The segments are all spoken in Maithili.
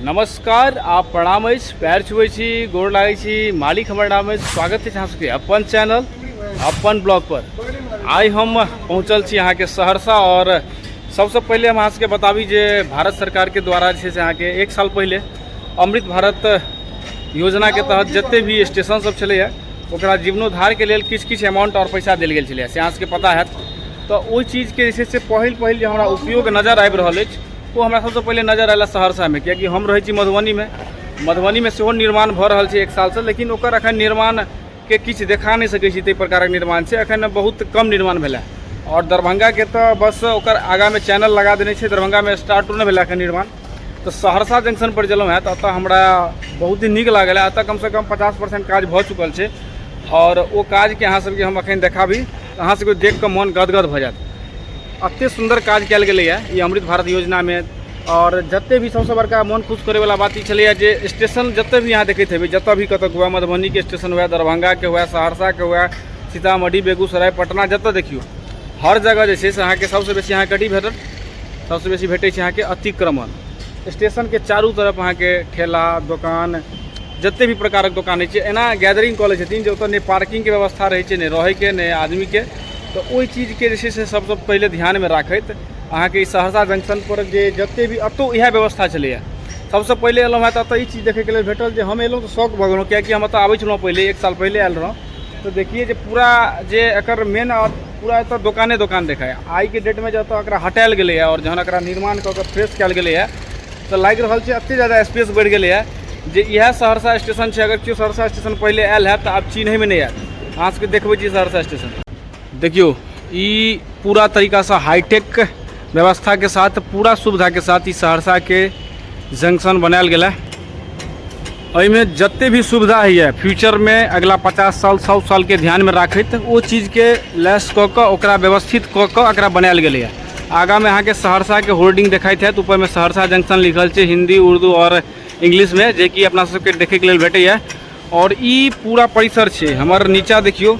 नमस्कार आ प्रणाम अछि पैर छुबै छी गोर लागै छी मालिक हमर नाम अछि स्वागत अछि अहाँ सबके अपन चैनल अपन ब्लॉग पर आइ हम पहुँचल छी अहाँके सहरसा और सबसँ पहिले हम अहाँ सबके बताबी जे भारत सरकारके द्वारा जे छै से अहाँके एक साल पहिले अमृत भारत योजनाके तहत जते भी स्टेशन सब छलैए ओकरा जीवनोद्धारके लेल किछु किछु अमाउंट आओर पैसा देल गेल छलै से अहाँ सबके पता हैत तऽ ओहि चीजके जे छै से पहिल पहिल जे हमरा उपयोग नजर आबि रहल अछि ओ हमरा सबसँ पहिले नजर आयल सहरसामे कियाकि हम रहै छी मधुबनीमे मधुबनीमे सेहो निर्माण भऽ रहल छै एक सालसँ लेकिन ओकर अखन निर्माणके किछु देखा नहि सकै छी ताहि प्रकारक निर्माण छै अखन बहुत कम निर्माण भेलै आओर दरभंगाके तऽ बस ओकर आगाँमे चैनल लगा देने छै दरभंगामे स्टार्टो नहि भेलै अखन निर्माण तऽ सहरसा जंक्शन पर गेलहुँ हँ तऽ एतऽ हमरा बहुत ही नीक लागल एतऽ कमसँ कम पचास परसेंट काज भऽ चुकल छै आओर ओ काजके अहाँ सबके हम अखन देखाबी अहाँ सबके देख कऽ मन गदगद भऽ जायत एते सुन्दर काज कयल गेलैए ई अमृत भारत योजनामे आओर जते भी सबसँ बड़का मन खुश करैवला बात ई छलैए जे स्टेशन जतऽ भी अहाँ देखैत हेबै जतऽ भी कतऽ हुए मधुबनीके स्टेशन हुए दरभंगाके हुए सहरसाके हुए सीतामढ़ी बेगूसराय पटना जतऽ देखियौ हर जगह जे छै से अहाँके सबसँ बेसी अहाँके कथी भेटत सबसँ बेसी भेटै छै अहाँके अतिक्रमण स्टेशनके चारू तरफ अहाँके ठेला दोकान जतेक भी प्रकारक दोकान होइ छै एना गैदरिंग कऽ लै छथिन जे ओतऽ नहि पार्किंगके व्यवस्था रहै छै नहि रहैके नहि आदमीके तऽ ओहि चीजके जे छै से सबसँ पहिले ध्यानमे राखैत अहाँके ई सहरसा जंक्शनपर जे जतेक भी एतौ इएह व्यवस्था छलैए सबसँ पहिले एलहुँ हँ तऽ एतऽ ई चीज देखैके लेल भेटल जे हम एलहुँ तऽ शौक भऽ गेलहुँ कियाकि हम एतऽ आबै छलहुँ पहिले एक साल पहिले आयल रहौँ तऽ देखियै जे पूरा जे एकर मेन पूरा एतऽ दोकाने दोकान देखाय आइके डेटमे जे एतऽ एकरा हटायल गेलैए आओर जहन एकरा निर्माण कऽ कऽ फ्रेश कयल गेलैए तऽ लागि रहल छै एतेक जादा स्पेस बढ़ि गेलैए जे इएह सहरसा स्टेशन छै अगर केओ सहरसा स्टेशन पहिले आयल हैत तऽ आब चिन्हैमे नहि आयत अहाँ सबके देखबै छी सहरसा स्टेशन देखियौ ई पूरा तरीकासँ हाइटेक व्यवस्थाके साथ पूरा सुविधाके साथ ई सहरसाके जंक्शन बनायल गेल एहिमे जते भी सुविधा होइए फ्यूचरमे अगिला पचास साल सौ सालके ध्यानमे राखैत ओ चीजके लेस कऽ कऽ ओकरा व्यवस्थित कऽ कऽ एकरा बनायल गेलैए आगाँमे अहाँके सहरसाके होर्डिंग देखाइत हैत ऊपरमे सहरसा जंक्शन लिखल छै हिन्दी उर्दू आओर इंग्लिशमे जेकि अपना सबके देखैके लेल भेटैए और ई पूरा परिसर छै हमर नीचा देखियो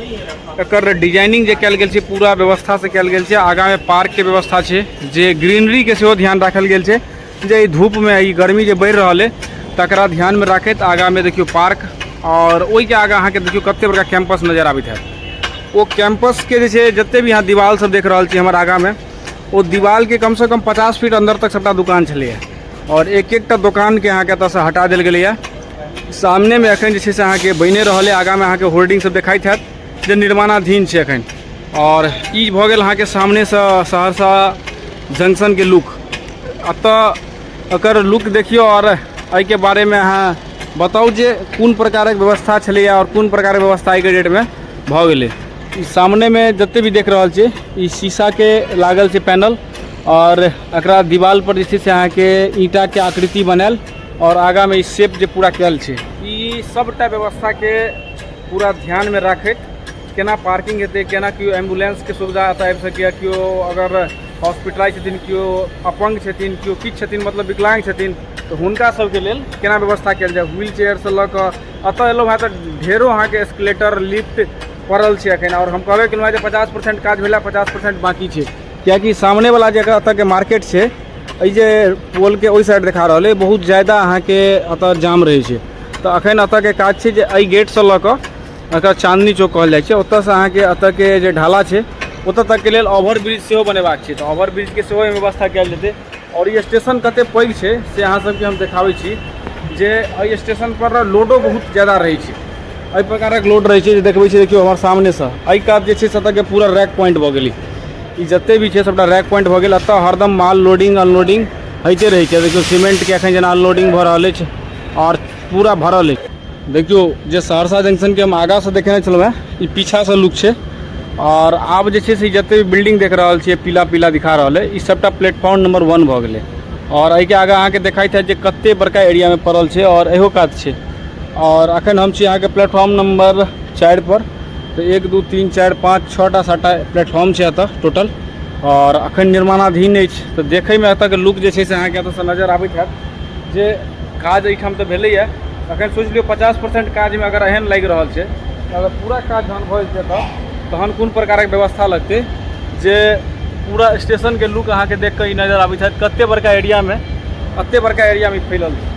एकर डिजाइनिंग जे कल गेल छै पूरा व्यवस्था से कल गेल छै आगा में पार्क के व्यवस्था छै जे ग्रीनरी के सेहो ध्यान राखल गेल छै जे धूप में ई गर्मी जे बढ़ि रहल है तकरा ध्यान में राखत आगा में देखियो पार्क और ओहि के आगा अहाँ के देखियो कते बड़का कैंपस नजर आबैत है ओ कैंपस के जे जते भी अहाँ दीवाल सब देख रहल छी हमर आगा में ओ दीवाल के कम से कम पचास फीट अंदर तक सबटा दुकान छलै और एक एकटा दुकान के अहाँ के एतऽ से हटा देल गेलै सामने में अखन जे छै से अहाँ के बने रहल है आगा में अहाँ के होर्डिंग सब देखाइत हैत जे निर्माणाधीन छै एखन आओर ई भऽ गेल अहाँके सामनेसँ सहरसा जंक्शनके लुक एतऽ एकर लुक देखियौ आओर एहिके बारेमे अहाँ बताउ जे कोन प्रकारक व्यवस्था छलैए आओर कोन प्रकारक व्यवस्था एहिके डेटमे भऽ गेलै ई सामनेमे जतेक भी देख रहल छियै ई शीशाके लागल छै पैनल आओर एकरा दीवालपर जे छै से अहाँके ईंटाके आकृति बनायल आओर आगाँमे ई शेप जे पूरा कयल छै ई सभटा व्यवस्थाके पूरा ध्यानमे राखैत केना पार्किंग हेतै केना केओ एम्बुलेंसके सुविधा एतय आबि सकैए केओ अगर हॉस्पिटलाइज छथिन केओ अपंग छथिन केओ किछु छथिन मतलब विकलांग छथिन तऽ हुनका सभके लेल केना व्यवस्था कयल जाय व्हील चेयरसँ लऽ कऽ एतय एलहुँ हेँ तऽ ढेरो अहाँके एस्केलेटर लिफ्ट पड़ल छै एखन आओर हम कहबे केलहुँ हेँ जे पचास परसेंट काज भेला पचास परसेंट बाँकी छै किएकि सामनेवला जे एतयके मार्केट छै एहि जे पोलके ओहि साइड देखा रहल अइ बहुत ज्यादा अहाँके एतय जाम रहै छै तऽ अखन एतऽ के काज छै जे एहि गेट से लऽ कऽ एकर चाँदनी चौक कहल जाइ छै ओतयसँ अहाँके एतऽ के जे ढाला छै ओतऽ तक के लेल ओवर ब्रिज सेहो बनेबाक छै तऽ ओवर ब्रिज के सेहो एहिमे व्यवस्था कयल जेतै आओर ई स्टेशन कते पैघ छै से अहाँ सबके हम देखाबै छी जे एहि स्टेशन पर ने लोडो बहुत ज्यादा रहै छै एहि प्रकारक लोड रहै छै जे देखबै छियै देखियौ हमर सामने सँ एहि कात जे छै से एतऽ के पूरा रैक प्वाइंट भऽ गेलै ई जते भी छै सबटा रैक प्वाइंट भऽ गेल एतऽ हरदम माल लोडिंग अनलोडिंग होइते रहै छै देखियौ सीमेंट के एखन जेना अनलोडिंग भऽ रहल अछि आओर पूरा भरल अछि देखियौ जे सहरसा जंक्शनके हम आगाँसँ देखने छलहुँ हेँ ई पीछासँ लुक छै आओर आब जे छै से जतेक भी बिल्डिंग देख रहल छियै पीला पीला दिखा रहल अइ ई सभटा प्लेटफॉर्म नम्बर वन भऽ गेलै आओर एहिके आगाँ अहाँके देखाइत हैत जे कतेक बड़का एरियामे पड़ल छै आओर इहो कात छै आओर एखन हम छी अहाँके प्लेटफॉर्म नम्बर चारिपर तऽ एक दू तीन चारि पाँच छओ टा सातटा प्लेटफॉर्म छै एतऽ टोटल आओर एखन निर्माणाधीन अछि तऽ देखैमे एतऽके लुक जे छै से अहाँके एतऽसँ नजर आबैत हैत जे काज एहिठाम तऽ भेलैए अगर सोचि लियौ पचास परसेन्ट काजमे अगर एहन लागि रहल छै तऽ अगर पूरा काज जहन भऽ जेतै एतय तहन कोन प्रकारक व्यवस्था लगतै जे पूरा स्टेशनके लुक अहाँकेँ देख कऽ ई नजर आबै छथि कतेक बड़का एरियामे एतेक बड़का एरियामे ई फैलल छै